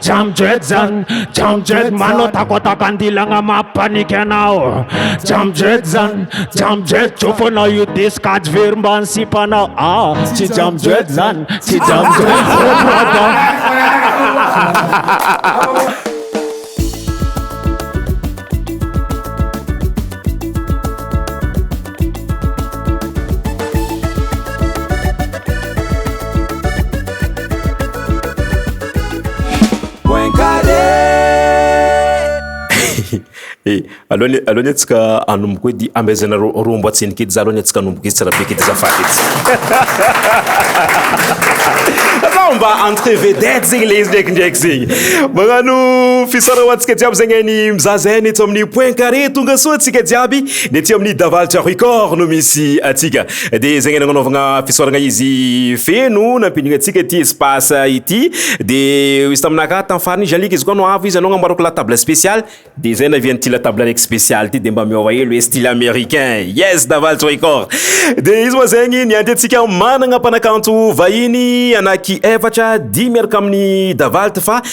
Jam jet zan, jam jet Manao takoatako andilagna mampaniky anao Jam jet zan, jam jet Jofonao io disque ady very mbany sipanao Ah, tsy jam jet zan, tsy jam jet Eh, aloany aloany atsika anomboka edy amezana rombo atsiny kedy za aloany atsika anomboka izy tsara be kedy zafady etsy zao mba entre vedette zegny le izy ndraiky ndraiky zegny magnano fisara ho antsika jiaby zegny ainy mizaza ainy eto amin'ny point carré tonga soa atsika jiaby Dia aty amin'ny Davalitra Record no misy antsika. Dia izay nanaovana fisaorana izy feno nampidina antsika ity espace ity. Dia izy taminà ka tamin'ny farany izy alika izy koa no avo izy anao nambarako la table spéciale. Dia izay nahavian'ity la table araiky spéciale ity dia mba miôva hely hoe style américain. Yes Davalitra Record. Dia izy moa zegny nianty antsika managna mpanakanto vahiny anaky efatra dimy miaraka amin'ny Davalitra fa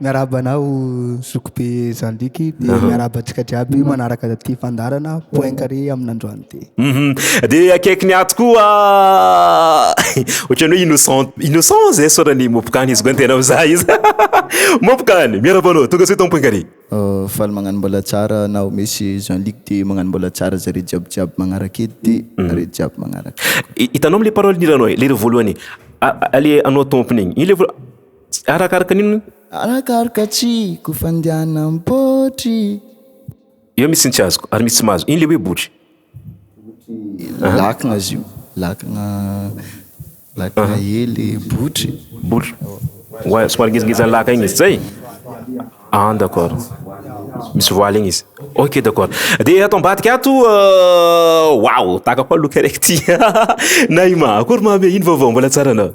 Miarahaba anao zokibe Jean Luc dia miarahaba antsika jiaby manaraka ity fandaharana point carré amin'androany ity. Mhm. Dia akaiky ny ato koa ohatran'ny hoe innocent innocent zay sorany Mopkany izy koa ny tena mizaha izy. Mopkany, miarahaba anao, tonga soa eto amin'ny point carré. Faly magnano mbola tsara anao Mesy Jean Luc dia magnano mbola tsara zareo jiaby jiaby magnaraka eto dia nareo jiaby magnaraka. Hitanao amin'ilay parole ny hiranao e, ilay voalohany e, a- a- le anao tompony iny, iny le voalohany. Arakaraka ny inona? Arakaraka tsy ko fandianam potry. Eo misy ny tsy azoko ary misy tsy mahazo. Iny le hoe botry. Botry lakana izy io. Lakana lakana ee le botry. Botry. Oa somary ngezingeza ny laka iny izy. Zay? Ah d'accord. Misy voile iny izy. Ok d'accord. Dia ato ambadika ato waouh tahaka koa look araiky ity. Na i Maha akory maha be iny vaovao mbola tsara anao.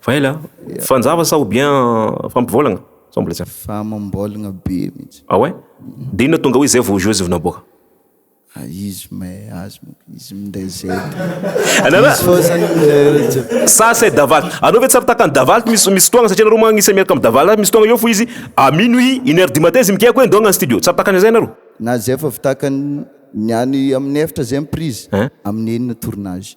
Faela a! Fanjava sa ou bien fampivolagna? Sao mbola tsy haiko. Famambolagna be mintsy. Ah ouais? De inona tonga hoe zay vao jeux vao naboaka? Ah izy mais azy moko izy minday zay de izy fô zany minday an'zay. Sa c'est Daval? Anao ve tsy ary takan'i Daval misy misy fotoagna satria nareo moa agnisany miaraka amin'i Daval misy fotoagna eo fo izy à minuit, une heure du matin izy migiaka hoe ndao hagnano studio. Tsy ary takany an'zay nareo? Na zay efa vtakany ny any amin'ny efatra zay ny prise, amin'ny enina tournage.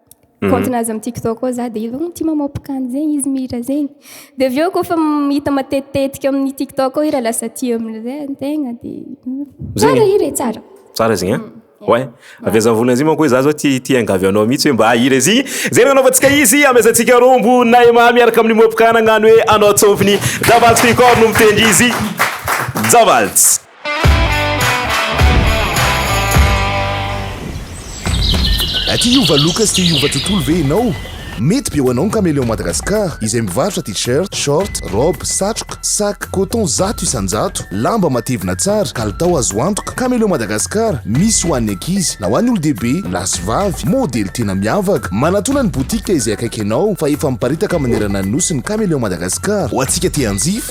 compte nazy amin'ny tiktok ao za dia efa tia mamaopka an'izegny izy mihira zegny dia avy eo kôfa hita matetitetika amin'ny tiktok ao ira lasa tia amin'izay ny tegna dia tsara hira e tsara tsara zegny a Ouais. Avy aza volana izy manko hoe za zao ti ti angavy anao mihitsy hoe mba hahira izy. Zay no anaovantsika izy amezantsika rombo Naima miaraka amin'ny Mopka nagnano hoe anao tsômpiny. Javalts Record no mitendry izy. Javalts. Aty hiova look sy te hiova tontolo ve ianao? Mety be ho anao ny Cameleon Madagascar, izay mivarotra t-shirt, short, robe, satroka, sac, coton zato isan-jato, lamba matevina tsara, kalitao azo antoka. Cameleon Madagascar, misy ho an'ny ankizy, na ho an'ny olon-dehibe, lahy sy vavy, modely tena miavaka. Manatona ny boutique izay akaiky anao fa efa miparitaka manerana ny Nosy ny Cameleon Madagascar. Ho antsika te hanjifa,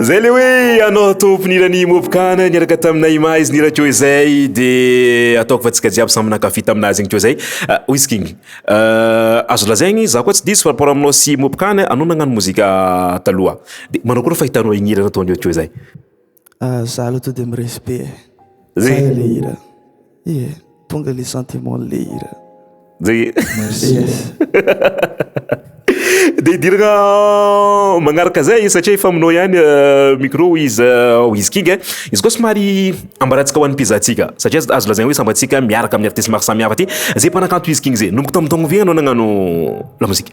Zay le hoe anao tomponirany mopokana niaraka taminay ma izy nira ko izay de ataoko fa tsika jiaby samy nankafi taminazy igny ko zay ah, wiskigny euh, azo lazaigny za koa tsy diso rapport aminao sy mopokana anao nagnano mozika taloha de manao koa raha fahitanao ignirana ataon'io ko zay Ah, za aloha tonga dia miresy be e. Zay ilay hira. Ie, tonga ilay sentiment-n'ilay hira. Zay. Merci. Dia hidirana magnaraka zay satria efa aminao ihany euh, micro izy euh, izy king eh. Izy koa somary ambarantsika ho an'ny pizzatsika satria azo- azo lazaina hoe sambantsika miaraka amin'ny artistes maro samihafa aty. Zay mpanakanto izy king zay. Nomboka tamin'ny taogno ve ianao nagnano lamozika?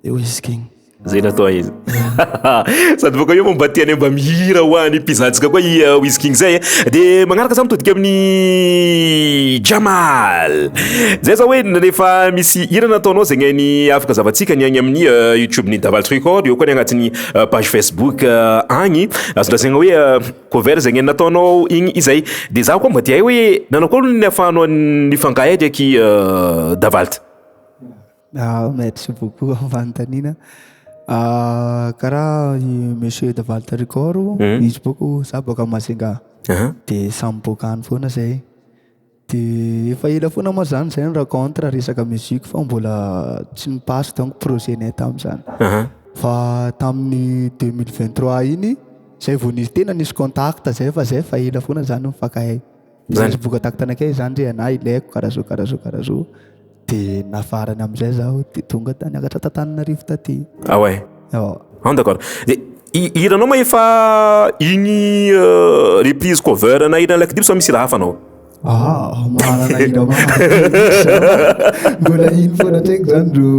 Eo izy king. Zay natao izy. Sady bôka eo mba tianay mba mihira ho an'ny mpizahantsika koa i uh, Wiz King zay. Eh. De magnaraka zany mitodika amin'ny Jamal. Zay za hoe rehefa misy hira nataonao zegny ny afaka zavantsika ny agny amin'ny uh, YouTube ny Daval Record, eo koa ny agnatin'ny uh, page Facebook agny. Azondrasegna hoe cover zegny nataonao igny izay. De za koa mba tiahay hoe nanao koa ny afahanao nifangahady aky Davalt. Merci beaucoup am fanontaniana. Karaha i Monsieur de Valtricor, izy bôko, za bôka Majunga, de samy bôka any foana zahay. De efa ela foana moa zany zahay ni-rencontre resaka musique fa mbola tsy ni-passe donc projet-nay tamin'izany. Fa tamin'ny deux mille vingt trois iny zay vao nisy tena nisy contact zay fa zay efa ela foana zany nifankahay. Zany. Rehefa voka taktana kay zany re anah ilaiko karaha zao karaha zao karaha zao de nafarany amizay zaho de tonga tany akatra tantananarivo taty. Ah ouais. Ao. An d'accord. De i- hiranao ma efa igny euh, reprise cover ana hiran'i Laky Dimy sa misy hira hafa anao? Ah, mahalala hira maro be mihitsy zaho. Mbola iny foana tsaiko zany ro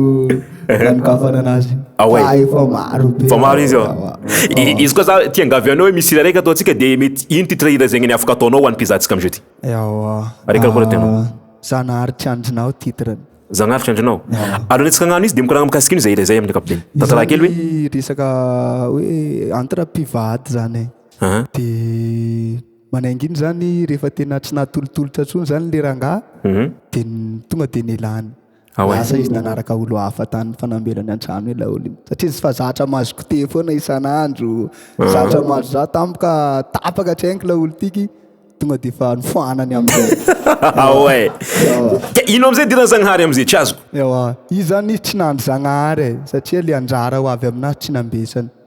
nanokafana anazy ah fa efa maro be fa maro izy ah. ah. izy koa za ti angavy anao hoe misy hira raika ataontsika dia mety ino titre hira zegny ny afaka ataonao ho an'ny mpizahantsika amin'izao ty ewa areka koa tena ah, zanahary tsy andrinao titre zanahary tsy andrinao aloha netsika agnano izy dia mikoragna mikasika ino izay hira izay amin'ny kapiteny tantara kely hoe resaka hoe entre mpivady zany de manainga iny zany rehefa tena tsy nahatolotolotra tsony zany le rangaha mhm. de tonga de nelany Ao e. Lasa izy nanaraka olo hafa tany fanambela ny antrano ilay olo iny satria izy fa zatra mahazo goûter foana isan'andro, zatra mahazo za tampoka tapaka hatrainy ilay olo tiky tonga dia efa nofoanany amin'izay. Ao e. Ka ino amin'izay idiran'i Zagnahary amin'izay tsy azoko. Ewa, izy zany izy tsy nandry Zagnahary e, satria ilay anjara ho avy amin'azy tsy nambesany.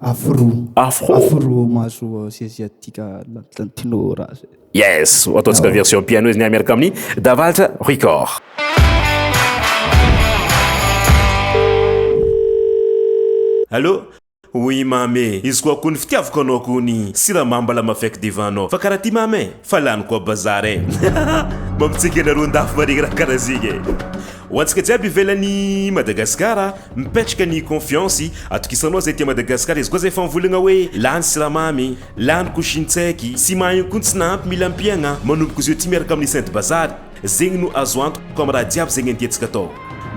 Afro. Afro. Afro mahazo asiaziatika latino raha zay. Yes, ataontsika version piano izy ny miaraka amin'ny Davaltra Record. Allô? Oui mamy e, izy koa akoho ny fitiavako anao akoho ny siramamy mba lama fek devant anao fa karaha ty mamy e, fa lany koa bazar e. Mampitsiaka anareo an-dafy marigny raha karaha zegny e. Ho antsika jiaby ivelan'i Madagasikara. Mipetraka ny confiance, atokisanao zay aty Madagascar izy koa zay famvolagna hoe lany siramamy, lany couscine tsaiky sy maheno koa ny tsy nahampy mila ampiagna, manomboka zeo ty miaraka amin'ny sainte bazary, zegny no azo antoko amin'ny raha jiaby zegny andiantsika atao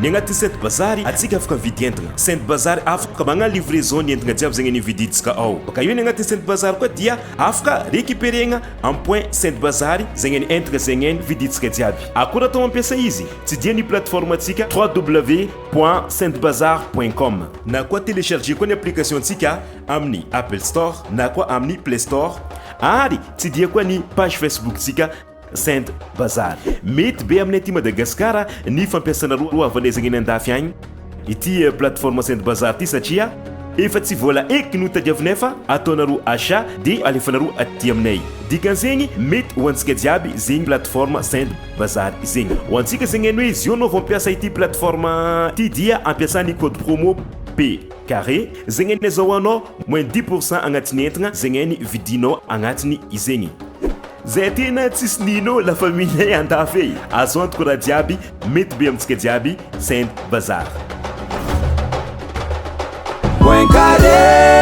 ny agnatin'ny sainte bazary, atsika afaka mividy entagna sainte bazary afaka magnano livraison ny entagna jiaby zegny nividintsika ao baka eo ny agnatin'ny sainte bazary koa dia afaka recuperegna amin'ny point sainte bazary zegny ny entagna zegny ny vidintsika jiaby, akora atao mampiasa izy tsy dia ny plateforme antsika www. point saintbazar point com na koa telecharger koa ny application ntsika amin'ny apple store na koa amin'ny play store ary tsidiha koa ny page facebook ntsika saint bazar mety be amin'ny aty madagasikara ny fampiasanareo ho avanezagna eny andafy agny ity eh, plateforme saint bazar ity satria efa tsy vola eky no tadiavinay fa ataonareo achat dia alefanareo aty aminay dikan'izegny mety ho antsika jiaby zegny plateforme saint Bazary zegny. Ho antsika zegny hainy hoe izy io anao vao hampiasa ity plateforme ity dia ampiasa ny code promo P carré zegny hainy azahoanao moins dix pour cent agnatin'ny entagna zegny hainy vidinao agnatiny izegny. Zay tena tsisy nino la famille andafy e! Azo antoka raha jiaby mety be amintsika jiaby send bazary. Point carré.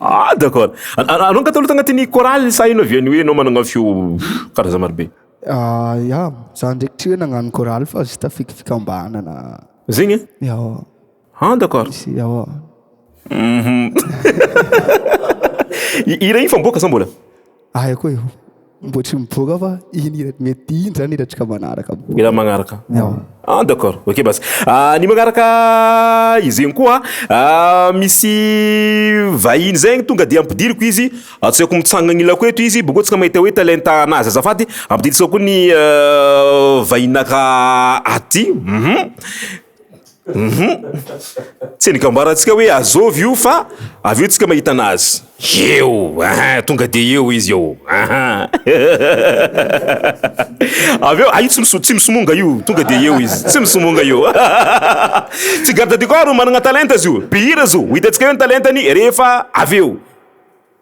Ah d'accord. An- an- Anao katolika agnatin'ny chorale sa ianao avy any hoe ianao managna feo karazany maro be? Ah, ya, za ndraiky tsy hoe nagnano chorale fa juste fikifikambanana. Zegny e? Ya, Ah d'accord. sy ya. I- Hira ino fa miboaka sa mbola? Ahy koa io. Mbola tsy mivoaka fa iny hira mety iny zany hirantsika manaraka. Hira magnaraka. Ah d'accord. Ok basy. Ah ny magnaraka izegny koa ah misy vahiny zay ny tonga de ampidiriko izy atsaiko mitsangana agnilako eto izy bôkeo tsika mahita hoe talenta anazy azafady ampidintsika koa ny vahinaka aty. Hum tsy ny gambarantsika hoe azovy io fa avy eo tsika mahita anazy eo aha tonga de eo izy eo aha avy eo aio tsy miso tsy misomonga io tonga de eo izy tsy misomonga io tsy garde du corps manana talenta izy io mpihira izy io ho hitantsika eo ny talentany rehefa avy eo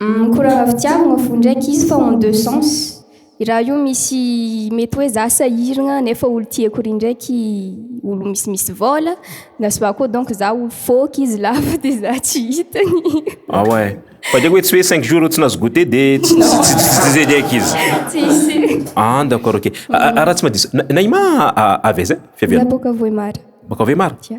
Umm ko raha fitiavagna fo ndraiky izy fa en deux sens i raha io misy mety hoe za sahiragna nefa olo tiako ry ndraiky olo misimisy vôla na soit koa donc za olo fôky izy lava de za tsy hitany Ah ouais fa dia hoe tsy hoe cinq jours eo tsy nahazo goûter de tsy Non. tsy- tsy- tsy- tsy zay ndraiky izy tsisy ah d'accord ok Ah, ah, raha tsy mahadiso Na- Naïma ah, avy aiza fiaviana Za boka Vohemar. baka Vohemar Tia.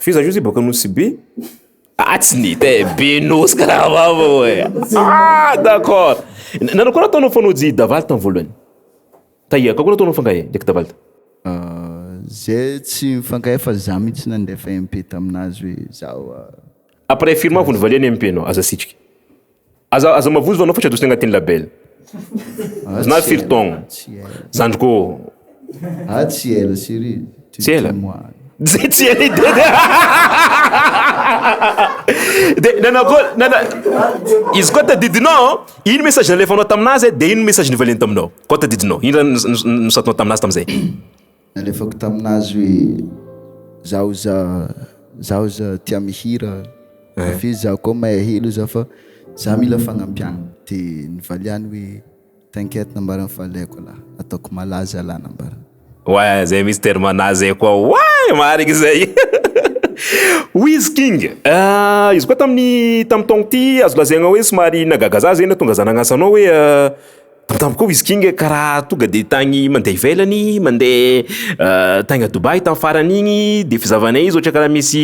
F'iza io zay boaka Nosy Be? Ah tsy ny hita eh, be Nosy karaha vava oh eh. Ah d'accord. Nanao koa nataonao fanaoji Davaly tamin'ny voalohany. Tahiaka koa nataonao fangahy eh, ndraiky Davaly. Zay tsy mifankahay fa za mihitsy nandefa MP taminazy hoe zaho. Après firma vao nivaliany MP nao, aza asitrika. Aza aza mavozo anao fa tsy adosy agnatin'ny label. Zna firy taogno. Zandriko ô. Ah tsy ela chérie tu Tsy ela. Tsy tsy ela ide de de nanao akôry nana izy koa tadidinao ino message nalefanao taminazy de ino message nivaliany taminao koa tadidinao ino raha ni- ni- nisaotinao taminazy tamizay. Nalefako tamin'azy hoe zaho za zaho za tia mihira Eh. avy eo za koa mahay helo za fa za mila fagnampiagna de nivaliany hoe t'inquiète nambarany fa alaiko lah ataoko malaza lah nambarany. Ouais, zay mihitsy terme-na zay koa ouais marigny izay Wiz King, ah, izy koa tamin'ny tamin'ny taogno ty azo lazaigna hoe somary nahagaga za zay nahatonga za nagnasa anao hoe ah, Pourtant koa izy kinga ka raha tonga dia tagny mandeha ivelany, mandeha tagny à Dubaï tamin'ny farany igny dia efa zahavanay izy ohatra ka raha misy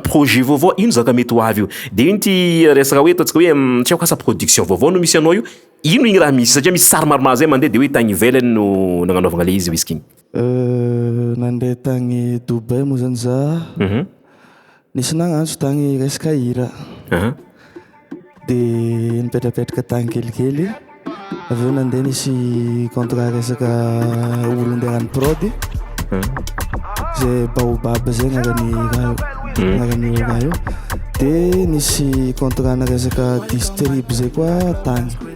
projet vaovao ino zaka mety ho avy eo. Dia iny ity resaka hoe ataontsika hoe tsy haiko asa production vaovao no misy anao io, ino igny raha misy satria misy sary maromaro zay mandeha dia hoe tagny ivelany no nagnanaovagna le izy whisky igny. Nandeha tagny Dubai moa zany za, nisy nagnantso tagny hiresaka hira, de nipetrapetraka tagny kelikely, avy eo nandeha nisy contrat resaka olo ndeha hagnano prod, ze baobab zay agnarany raha io, agnarany io raha io, de nisy contrat-na resaka distrib zay koa tagny.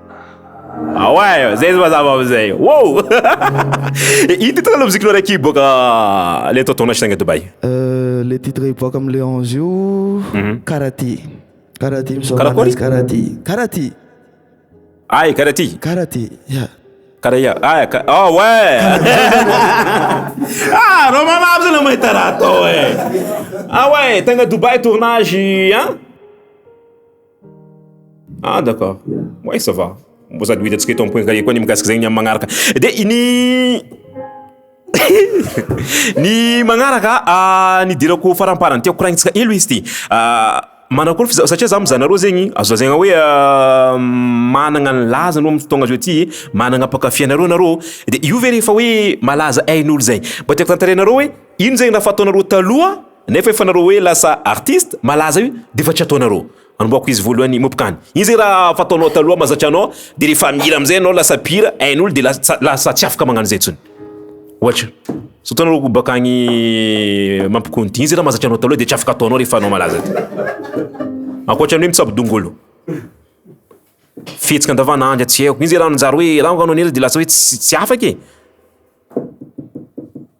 Ah ouais, zay mazava amizay. Wow! Io titre le musique nareo aky boaka le tao tournage tagny Dubaï. Euh, le titre hiboaka am le 11 io mhm. karaha ty. Karaha ty misao anazy karaha ty. Karaha ty. Ay, karaha ty. Karaha ty. Yeah. Karaha ah, ka... oh ouais. ah, Romain Mabs na mahita raha tao eh. Ah ouais, tagna Dubaï tournage, hein? Ah d'accord. Ouais ça va. Mbô sady ho hitantsika eto amin'ny point kahier koa ny mikasika izay ny amin'ny magnaraka. Dia ny ny magnaraka ah, ny idirako faramparany tiako koragnintsika helo izy ity. Ah, manakory f'izao satria za mizaha anareo zegny azo lazaina hoe managna ny lazany aloha amin'ny fotoagna zao ity, managna mpankafy anareo nareo. Dia io ve rehefa hoe malaza ain'olo zay. Mbô tiako tantarainareo hoe. Iny zegny raha fataonareo taloha nefa efa nareo hoe lasa artiste malaza io de efa tsy ataonareo anombohako izy voalohany mopkany iny zegny raha fataonao taloha mazatra anao de rehefa mihira amizay anao lasa mpihira hain'olo de lasa tsa- lasa tsy afaka magnano zay tsony ohatra zao ataonareo ko bakagny mampikony ty iny ze raha mazatra anao taloha de tsy afaka ataonao rehefa anao malaza ty ankoatran'ny hoe mitsabo dongolo fihetsika andavanandro tsy haiko iny ze raha nanjary hoe raha anao nihira de lasa hoe ts- tsy afaka e.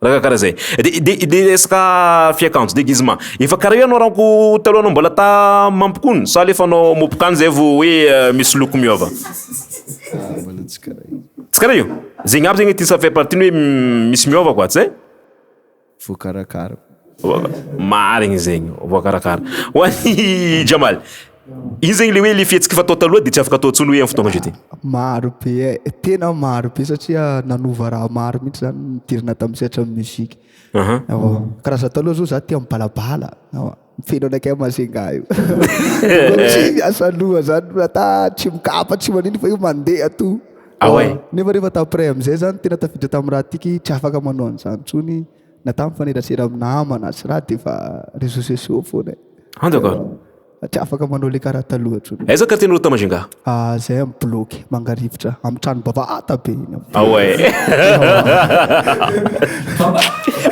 Raka kara zay. De de de resaka fiakanjo déguisement. Efa kara io anao raha ko taloha anao mbola ta mampikony sa le fanao mopikany zay vo hoe euh, misy loko miova. Ah, mbola tsy kara io. Tsy kara io. Zegny aby zegny ty sa fait partie ny hoe misy miova quoi, tsy zay? Voakarakara. Marigny zegny, voakarakara. Ho an'i Jamal. Iny zegny le hoe le fihetsiky efa tao taloha de tsy afaka atao intsony hoe amin'ny fotoagna ankehitriny. Maro be e, tena maro be satria nanova raha maro mihitsy zany nidirana tamin'ny sehatran'ny musique. Aha. Ewa, karaha za taloha zao za tia mibalabala, ewa, feno anakay Majunga io. Tsy miasa loha zany loha ata tsy mikapa tsy manino fa io mandeha to. Ah ouais. Nefa rehefa t'après am'zay zany tena tafiditra tamin'ny raha tiky tsy afaka manao an'zany intsony. na tamin'ny fanerasera amin'ny namana sy raha dia efa réseaux sociaux foana e. Hanjaka a. Fa tsy afaka manao le karaha taloha intsony. Aiza quartier n'i Rota Majunga? Ah, zay amin'ny bloc Mangarivotra, amin'ny trano bavata be iny amin'ny. Ah ouais.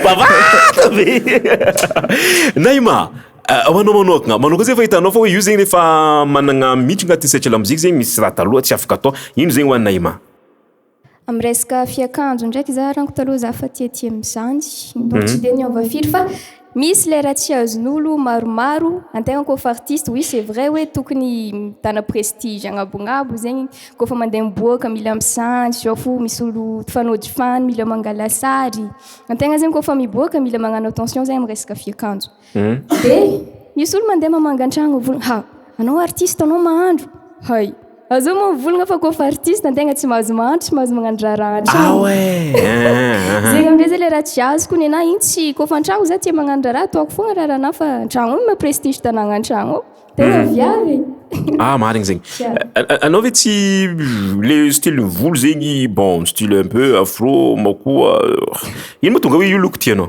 Bavata be. Naima, ah, ho anao manokana, manao koa zay fa hitanao fa hoe io zegny efa managna mihitsy agnatin'ny sehatra lamoziky zegny misy raha taloha tsy afaka atao. Ino zegny ho an'i Naima? Amin'ny resaka fiakanjo ndraiky za ranko taloha za fa tia tia amin'izany. Mbola tsy dia niova firy fa misy ilay raha tsy azon'olo maromaro antegna kôfa artiste oui c'est vrai hoe tokony mitana prestige agnabonabo zegny kôfa mandeha miboaka mila misanjy zao fo misy olo fanojifany mila mangala sary antegna zegny kôfa miboaka mila magnano attention zegny amin'ny resaka fiakanjo. Dia misy olo mandeha mamanga an-tragno mivolagna ha! anao artiste anao mahandro! hay! azao moa mivolagna fa koa fa artiste an-tegna tsy mahazo mahandro tsy mahazo magnano draraha an-tragno! ah ouais! zegny amin'izay zay le raha tsy azoko nenahy igny tsy koa fa an-tragno za tia magnano draraha ataoko foagna raharahanahy fa an-tragno ao ma prestige tagnana an-tragno ao tegna viavy e! Ah marigny zegny. Anao ve tsy le style volo zegny bon style un peu afro ma koa ino moa tonga hoe io loko tianao?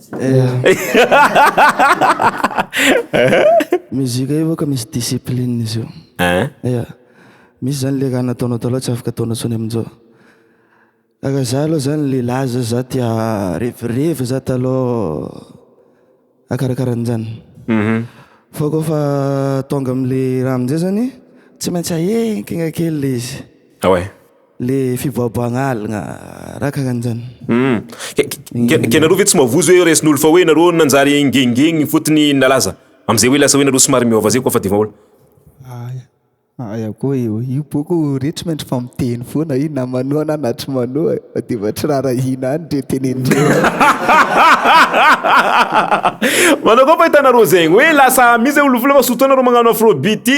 Musique io ka misy discipline izy io. An? Misy zany le raha nataonao taloha tsy afaka ataonao tsony amin'izao. Karaha za aloha zany lehilahy zao za tia revirevy za taloha akarakara an'izany. Fa koa fa tonga amin'le raha amin'izay zany tsy maintsy ahenkegna kely le izy. Ah ouais? Le fiboaboagna aligna raha karanjany. Humm. Ka nareo ve tsy mavozo hoe resin'olo fa hoe nareo nanjary ngengegny fotony nalaza amzay hoe lasa hoe nareo somary miova zay koa fa devaol. Aia aia koa io io boko re tsy maintsy fa miteny foana io na manoa na na tsy manoa e fa de va tsy rarahina any ndre tenendreo Manao akory fa hitanareo zegny hoe lasa misy zay olo vola fa surtout anareo magnano afrobeat ty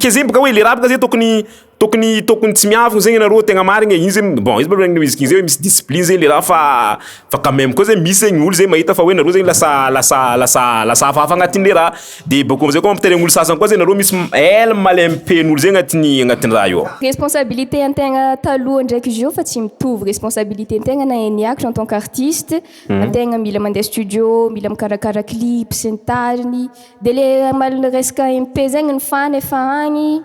Kezembo ka hoe le rap ka ze tokony tokony tokony tsy miavona zegny nareo tegna marigny e, iny ze bon izy problème ny musique zay misy discipline zay le raha fa fa quand même koa zay misy zegny olo zay mahita fa hoe nareo zegny lasa lasa lasa lasa hafahafa agnatin'le raha, de bakeo am'zay koa mampitainy amin'olo sasany koa zay nareo misy ela male am'pen'olo zay agnatin'ny agnatin'ny raha io ao. Responsabilité an-tegna taloha ndraiky zao fa tsy mitovy, responsabilité an-tegna na hain'ny hiakatra en tant qu'artiste. Ny tegna mila mandeha studio, mila mikarakara clip sy ny tariny, dia le malina resaka MP zegny ny fan efa agny,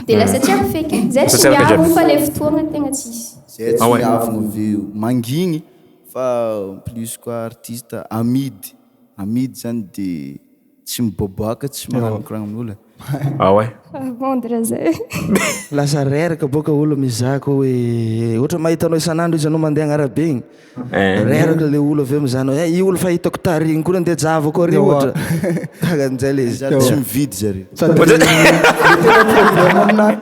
dia lasa tsy ampy feky e, zay tsy miavo fa le fotoagna tegna tsisy. Zay tsy miavo no veo, mangigny fa en plus koa artiste amidy, amidy zany dia. Tsy miboaboaka, tsy mananokoragna ny ola. Ah ouais. Fa bon dra zay. Lasa reraka boka olo mizaha ko oe otra mahita anao isanandro izy anao mandeha agnarabe igny Eh. reraka le olo aveo mizaha anao eh i olo fa hitako tary igny ko le ndeha javo ko ary otra kara njay le izy. Zary tsy mividy zare. Sady le tena problème aminah.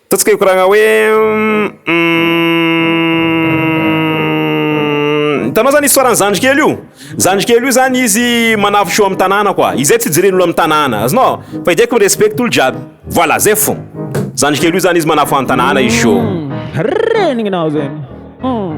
Ataontsika hikoragna hoe ummmm. Hitanao zany histoire-n'ny zandrikely io? Zandrikely io zany izy manavotra eo amin'ny tanàna quoi. Izay tsy ijeren'olo amin'ny tanàna. Azonao? Fa izy haiko mi-respecte olo jiaby. Voilà, zay fo. Zandrikely io zany izy manafo an-tanàna izy chou. Umm. Renignao zegny. Umm.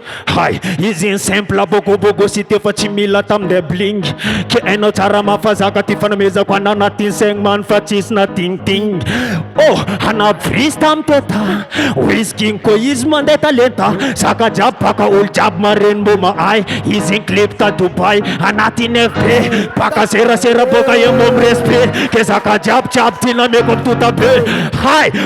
Hay, izy iny simple bogo bogo sy te fa tsy mila tam de bling Ke hainao tsara mafa zaka ty fanomezako anao na tin segn man fa tsisy na ting ting Oh, ana bris tam teta Wiz king ko izy mande talenta Zaka jiaby baka olo jiaby marigny mbo mahay Izy iny clip ta Dubai anatin FB Baka serasera boka emo am respect Ke zaka jiaby jiaby ty nameko am totabe Hay,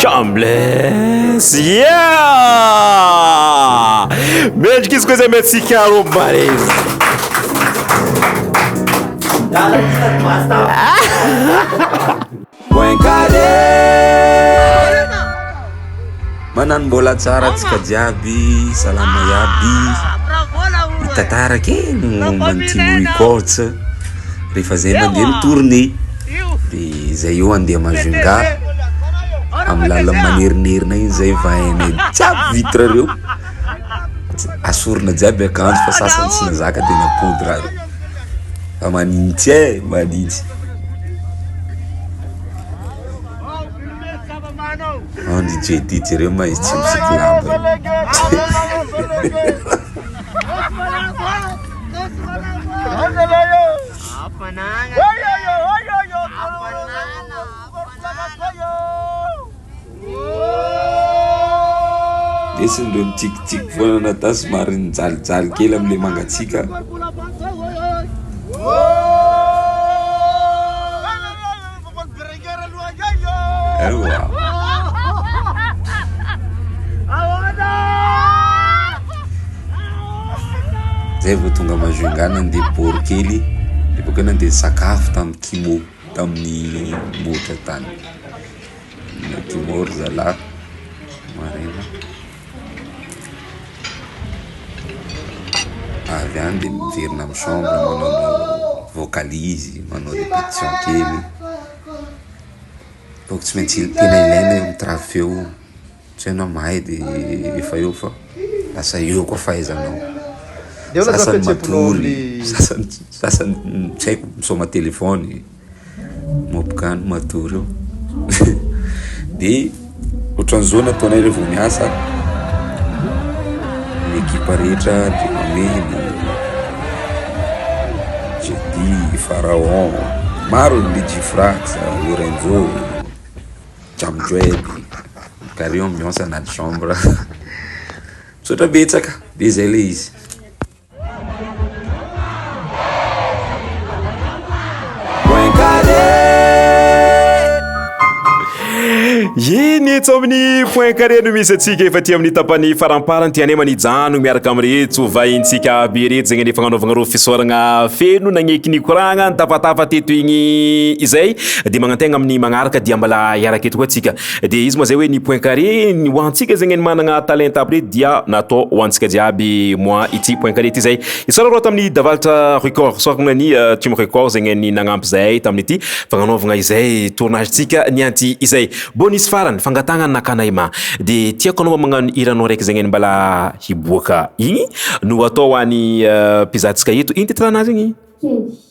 Chambless yeah! Mendrika izy koa izay metsika rombarezy Manano mbola tsara atsika jiaby salama iaby Mitatara kely momba ny Timo Records rehefa zay mandeha ny tournée de zay eo andeha Majunga amin'ny lalana manerinerina iny zay vaheanay jiaby vitre reo asorina jiaby akanjo fa sasany tsy nazaka de napody raha reo fa manintsy e manintsy ao ndry JD jereo ma izy tsy misiky lamba io. Hafanana Lesy ndreo mitsikitsiky foana nata somary nijalijaly kely amle mangatsiaka. Zay vao tonga Majunga nandeha bor kely de bakeo nandeha nisakafo tamin'ny Kimo tamin'ny Moja tany. Kimo ry zalahy maraina. avy any dia miverina amin'ny chambre manao vocalise, manao répétition kely, donc tsy maintsy tena ilaina eo amin'ny travy feo io, tsy hoe ianao mahay dia efa eo fa lasa eo koa fahaizanao, sasany matory, sasany tsy haiko misaoma telefony. Mopgany matoa reo de ohatran'izao no ataonay reo vao miasa ny ekipa rehetra Dramamena, Jedy, Pharaon, maro ny Djifrax, Lorenzo, Jamdred ka reo miasa anaty chambre misaotra betsaka de zay le izy. Eny etsy amin'ny point carré no misy antsika efa aty amin'ny tapany faramparany ty anema ny jano miaraka amin'ireto hovahintsika aby ireto zegny efa nanaovagna reo fisaoragna feno nagneky nikoragna nitafatafa teto igny izay dia magnantegna amin'ny magnaraka dia mbola hiaraka eto koa antsika Dia izy moa zay hoe ny point carré ho antsika zegny ny managna talenta aby rey dia natao ho antsika jiaby moa ity point carré ity zay. Isaora rô tamin'ny Davalitra Record sorogna ny Team Record zegny ny nagnampy zahay tamin'ity fagnanaovagna izay tournage ntsika nianty izay. Mbô nisy farany fangatagna ny nakanay ma de tiako anao mba magnano hiranao raiky zegny mbala hiboaka igny no atao ho an'ny mpizahantsika eto. Ino titre-nazy igny? Kely.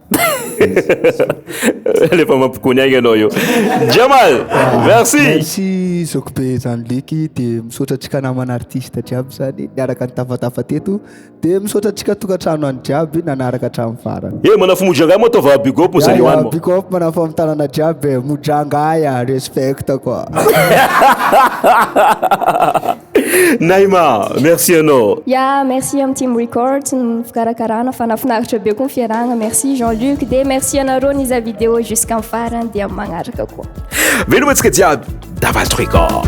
Alefa mampikony aigna anao io. Jamal, merci. Merci zokibe zany leky de misaotra antsika namana artiste jiaby zany niaraka nitafatafa teto de misaotra antsika tokantrano any jiaby nanaraka hatramin'ny farany. Eh manafo mojanga moa atao va big up moa zany ho any moa. Big up manafo amin'ny tanana jiaby e, mojanga aya, respect quoi. Naima, merci anao. Ya, merci amin'ny Team Records ny fikarakarana fa nafinaritra be koa ny fiarahana. Merci Jean Luc dia merci anareo niza vidéo jusqu'en farany dia magnaraka koa. Veloma antsika jiaby, Davas Record.